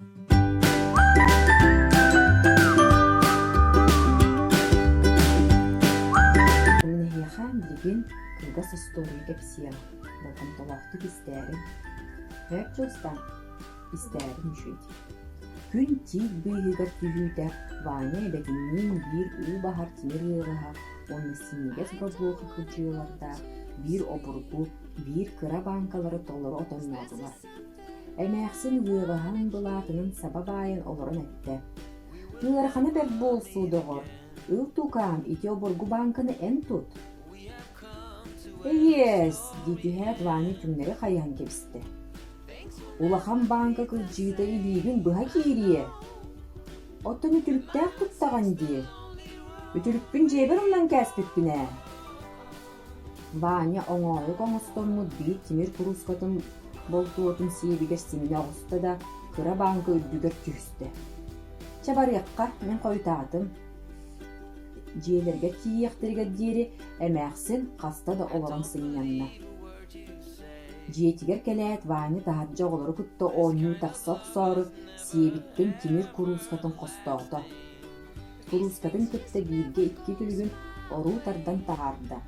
Мин эһиэхэ билигин кылгас остуоруйа кэпсиэм, болҕомтолоохтук истээриҥ. Эр дьылстан истээриҥ үчүгэй. Күн тиит быыһыгар түһүүтэ Ваня эбэтинниин биир уу баһар тимир ыаҕаһа уонна синньигэс борбуоха кыдьыылардаах биир обургу, биир кыра бааҥкалары толору отонноотулар. Эмээхсин үөҕэһэн былаатынан саба баайан олорон эттэ: «Ыарахана бэрт буолсу, доҕор, Ил Тукаам ити обургу бааҥканы эн тут». «Эйиэс!» дии түһээт Ваня чүҥнэри хайыһан кэбистэ. «Улахан бааҥка кырдьыыта илиибин быһа киириэ. Оттон үтүрүктээх туттаҕын дии. Үтүрүкпүн дьиэбэр умнан кээспиппин ээ». Ваня оҥоһук оҥостоммут били тимир куруускатын болтуотун сиэбигэр симнэ оҕуста да, кыра бааҥка үрдүгэр түстэ. «Чэ барыахха, мин хойутаатым» дьиэлэргэ тиийиэхтэригэр диэри эмээхсин хаста да олорон сынньанна. Дьиэтигэр кэлээт Ваня таһырдьа оҕолору кытта оонньуу тахса охсоору сиэбиттэн тимир куруускатын хостоото. Куруускатын кытта бииргэ-икки күлүгүн оруу тардан таһаарда,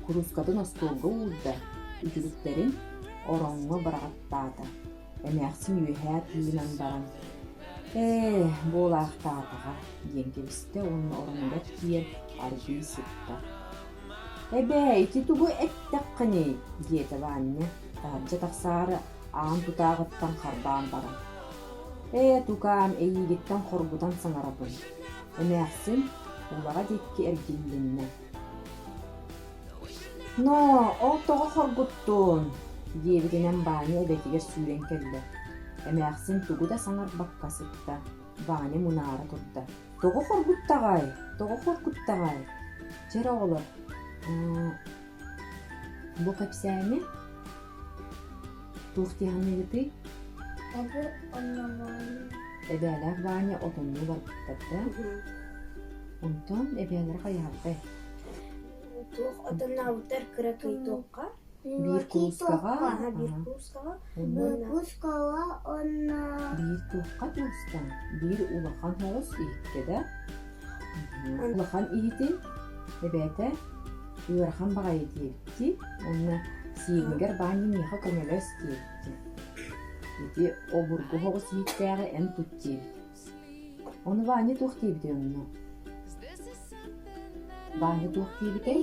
куруускатын остуолга уурда, үтүлүктэрин ороҥҥо быраҕаттаата, эмээхсин үөһээ тыынан баран «Ээ, буолаахтаатаҕа» диэн кэбистэ уонна ороҥҥор тиийэн аргыый сытта. «Эбээ, ити тугу эттэххиний?» диэтэ Ваанньа таһырдьа тахсаары аан тутааҕыттан харбаан баран «Ээ, тукаам, эйиигиттэн хоргутан саҥарабын, эмээхсин» улаҕа диэки эргиллиннэ. «Ноо, ол тоҕо хоргуттуун?» диэбитинэн Ваня эбэтигэр сүүрэн кэллэ. Эмээхсин тугу да саҥарбакка сытта. Ваня мунаара турда. «Тоҕо хоргуттаҕай? Тоҕо хоргуттаҕай? Чэр оҕолор, Бу кэпсээни туох дьаһаныыгытый? Оҕо оннооҕойун Эбээлээх Ваня отоннуу барбыттарда. Онтон эбээлэрэ хайаһардай. туох отоннообуттар кыра туйтуохха Биир куруускаҕа, аһа биир аһа. куруускаҕа Онон Выпускала онна биир туохха тыастан, биир улахан соҕус иһиккэ да улахан иһити эбээтэ ыарахан баҕайы диэбитий уонна сиэнигэр баанньы миэхэ көмөлөс диэбитэ ити обургу соҕус иһиттээҕи эн кут диэбит ону Ваня туох диэбитий онно Ваня туох диэбитэй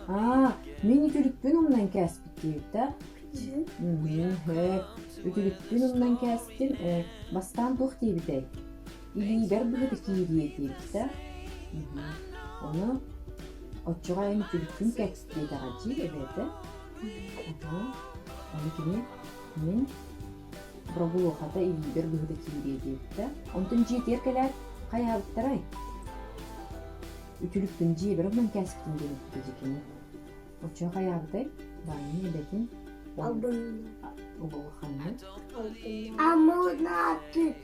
аа мин үтүлүкпүн умнан кээспит диэбитэ үтүлүкпүн умнан кээстим бастаан туох диэбитэй илиигэр быһыта кииринэ диэхтэ. Ону оччоҕо эн итириккин кэт диэтэҕэ дии эбээтэ. Отоо, ону кини мин Бробулохата илиигэр быһыта киириэ диэттэ. Онтон дьиэтигэр кэлээт, хайаабыттарай? Үтүлүкпүн дьиэбэр оннун кээскитин гыныппыта дии кини. Оччоҕо хайаабытай? Даанын эбэтин? Албыннаабыт. Албыннаабыт.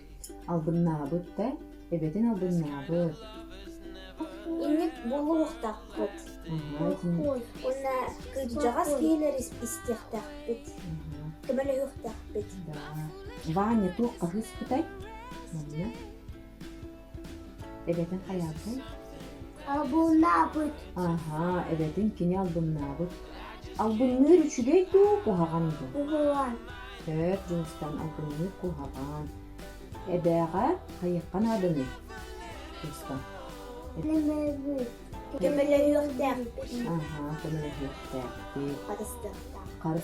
Албыннаабыт да? Эбэтин албыннаабыт. Инник булуохтахпыт. Уонна кырдьаҕас киһилэр истиэхтэхпит. Көмөлөһүөхтэхпит. Ваня туох хаһыспытай? Манна? Эбэтин хайаабытын? Албыннаабыт. Аһаа, эбэтин кини албыннаабыт. Албынныыр үчүгэй дуу, куһаҕан дуу? Куһаҕан. Төт Дьиҥстэн албынныыр куһаҕан. Эбээҕэ хайыахха нааданый? Кыыска. Көмөлөһүөхтээхпит. Аһаа, көмөлөһүөхтээхпит. Харыстыахтаах.